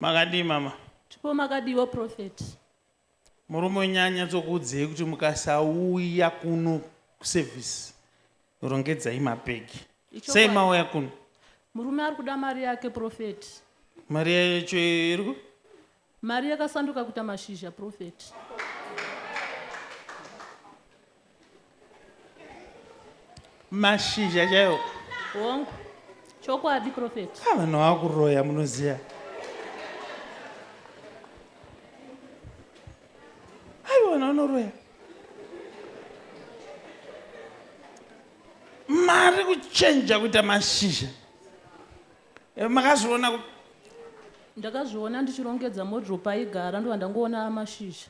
Makadii mama? Tipo makadiiwo prophet. Murume wenyu anyatsokuudzei kuti mukasauya kuno kuservice rongedzai mapegi. Ichokwadi. Sei mauya kuno? Murume ari kuda mari yake prophet. Mari yacho iri ku- Mari yakasanduka kuita mashizha prophet. mashizha chaiwo hongu chokwadi profeti ah, vanhu vakuroya munoziva aiwa vanhu vanoroya mari kuchenja kuita mashizha eh, makazviona ndakazviona ndichirongedza modro paigara ndovandangoona amashizha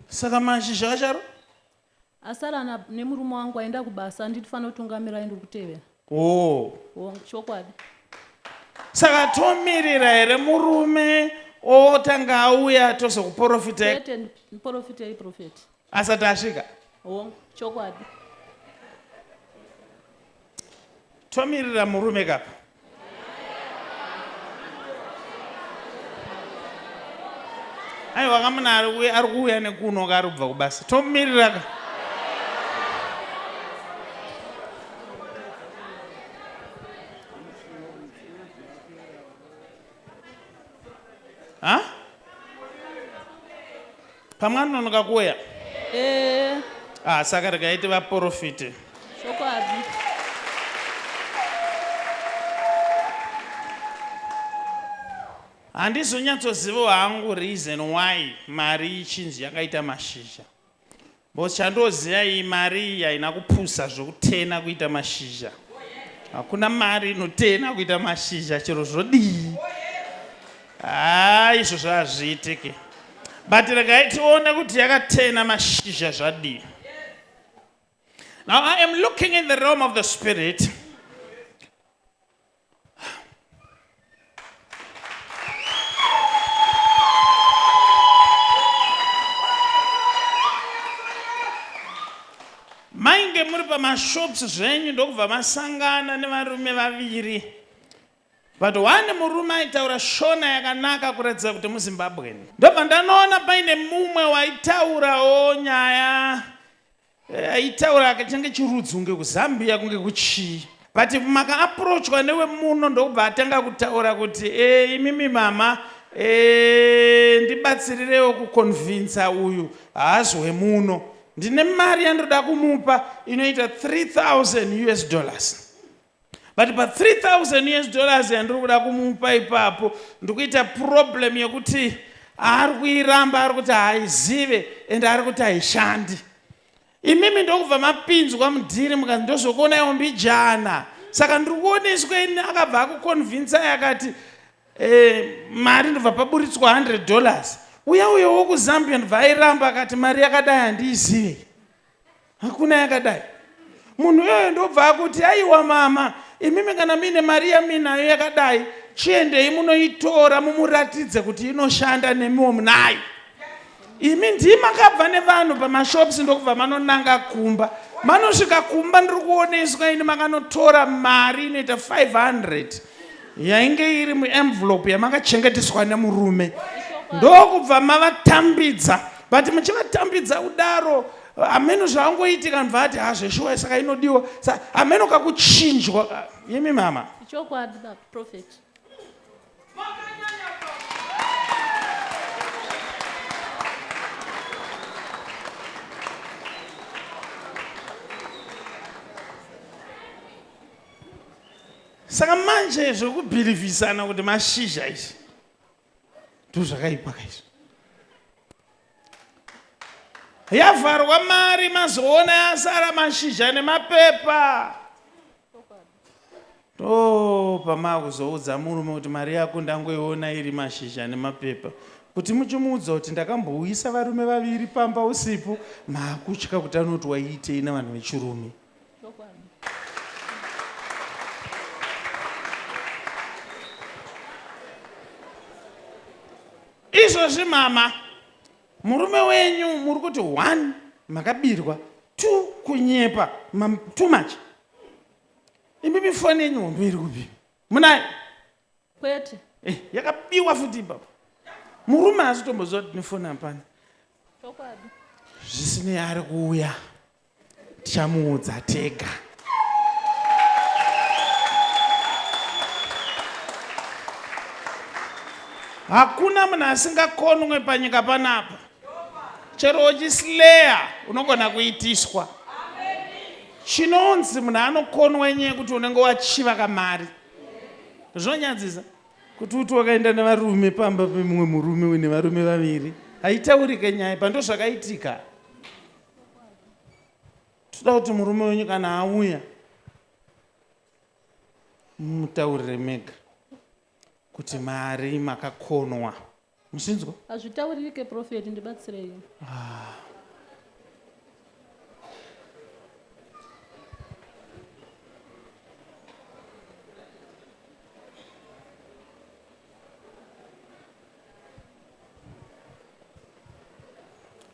saka mashizha acharo asara na- nemurume wangu aenda kubasa anditi fanira kutungamira aende kutevera oh. Oh, chokwadi saka tomirira here murume otanga auya tozokuporofita chete ndiporofitei profeti asati asvika hongu chokwadi tomirira murume kapa aiwa kamuna ari kuuya- ari kuuya nekuno ka ari kubva kubasa tomumirira ka ha Pamwe anononoka kuuya. Eh. Ah, saka regai tivaporofite. Chokwadi. Handizonyatsozivawo hangu reason why mari ichinzi yakaita mashizha. Because chandoziva iyi mari iyi haina kupusa zvokutena kuita mashizha. Hakuna mari inotena kuita mashizha chero zvodii. Haa izvozvo hazviitike but regai tione kuti yakatena mashizha zvadii now i am looking in the realm of the spirit mainge muri pamashops zvenyu ndokubva masangana nevarume vaviri But one murume aitaura shona yakanaka kuratidza kuti muZimbabwean. Ndobva ndanoona paine mumwe waitaurawo nyaya eh, aitaura akachange chirudzi kunge kuZambia kunge kuchii. But maka approachwa newemuno ndokubva atanga kutaura kuti eh, imimi mama eh, ndibatsirirewo kuconvinca uyu haazwe muno. Ndine mari yandinoda kumupa inoita 3000 US dollars. but pa 3000 us dollars yandiri kuda kumupa ipapo ndikuita problem yekuti ari kuiramba ari kuti haizive and ari kuti haishandi imimi ndokubva mapinzwa mudhiri mukanzi ndozokuona iwo mbijana saka ndiri kuoneswa ini akabva akuconvinsai akati eh, mari ndobva paburitswa 100 dollars uya uyo wokuzambia ndobva airamba akati mari yakadai handiizive hakuna yakadai munhu iyoyo ndobva akuti aiwa mama imimi kana muine mari yamuinayo yakadai chiendei munoitora mumuratidze kuti inoshanda nemiwo munayo imi ndii makabva nevanhu pamashops ndokubva manonanga kumba manosvika kumba ndiri kuoneswa ini makanotora mari inoita 500 yainge iri muenvelope yamakachengeteswa nemurume ndokubva mavatambidza but muchivatambidza kudaro hameno zvaangoitika anobva ati hazveshuwa saka inodiwa sa hameno kakuchinjwa ka imi mama ichokwadi baba prophet saka manje zvekubhirivhisana kuti mashizha izvi ndozvakaipa kaizvo yavharwa mari mazoona yasara mashizha nemapepa to pamakuzoudza murume kuti mari yako ndangoiona iri mashizha nemapepa kuti muchimuudza kuti ndakambouyisa varume vaviri pamba usipo makutya kuti anoti waiitei navanhu vechirume Chokwadi. izvozvi mama murume wenyu muri kuti one makabirwa two kunyepa mam- too much imimi foni yenyu hombe iri kupi munayo Kwete. eh, yakabiwa futi ipapo murume haasi tomboziva kuti nefoni hapana Chokwadi. zvisinei ari kuuya tichamuudza tega hakuna munhu asingakonwe panyika panapa chero uchisleya unogona kuitiswa chinonzi munhu anokonwa nyaya yekuti unenge wachiva kamari zvonyadzisa kuti uti wakaenda nevarume pamba pemumwe murume uine varume vaviri haitaurike nyaya pandozvakaitika toda kuti murume wenyu kana auya mutaurire mega kuti mari makakonwa muchinzwa hazvitauririke profeti ndibatsirei ah.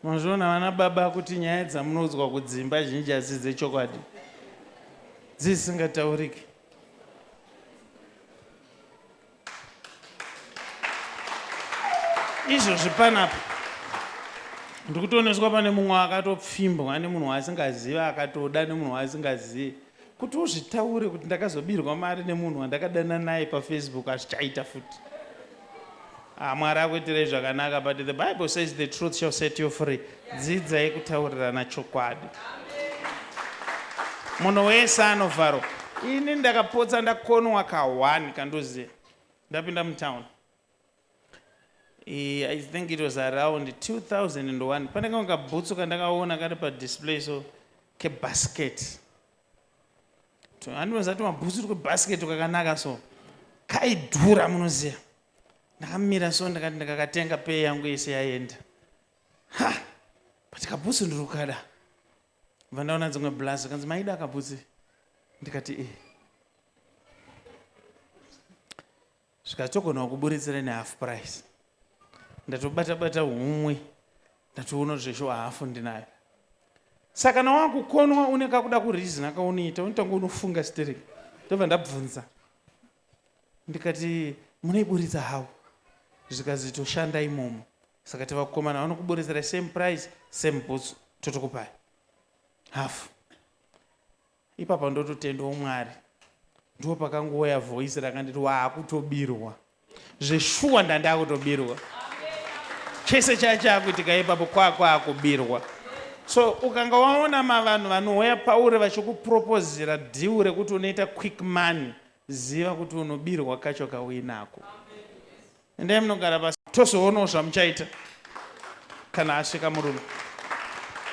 Mazviona vana baba kuti nyaya dzamunoudzwa kudzimba zhinji hadzisi dzechokwadi dzisingatauriki. Izvozvi panapa ndikutoneswa pane mumwe akatopfimbwa nemunhu waasingazivi akatoda nemunhu waasingazivi Kuti uzvitaure kuti ndakazobirwa mari nemunhu wandakadana naye pafacebook hazvichaita futi. Ah, Mwari akuitirei zvakanaka but the Bible says the truth shall set you free. Dzidzai kutaurirana chokwadi. Munhu wese anovharwa. Ini ndakapotsa ndakonwa ka one kandoziva. Ndapinda mutown. Eh, I think it was around 2001. Pane kamwe kabhutsu kandakaona kari padisplay so kebasket. Tu- Handinoziva tumabhutsu twebasket twakanaka so kaidhura munoziva. Ndakamira so ndakati ndakakatenga pay yangu yese yaenda. Ha! But kabhutsu ndiri kukada. Bva ndaona dzimwe blaz kanzi maida kabhutsu. Ndikati eh. zvikatogona kuburitsira ne half price ndatobata bata humwe ndatoona kuti zveshuwa hafu ndinayo saka kana wakukonwa une kakuda kurizina kaunoita unotanga unofunga stering ndobva ndabvunza ndikati munoiburitsa how zvikazitoshanda imomo saka tivakukomana vanokuburitsira same price same boots totokupai hafu Ipapa ndototendawo Mwari ndipo pakangouya voice rakanditi waakutobirwa zveshuwa ndandakutobirwa chese chaya chakuitika ipapo kwakwaakubirwa so ukanga waona mavanhu vanouya pauri vachikupropozera dhiu rekuti unoita quick money ziva kuti unobirwa kacho kauinako endai munogara pasi tozoonawo zvamuchaita kana asvika murume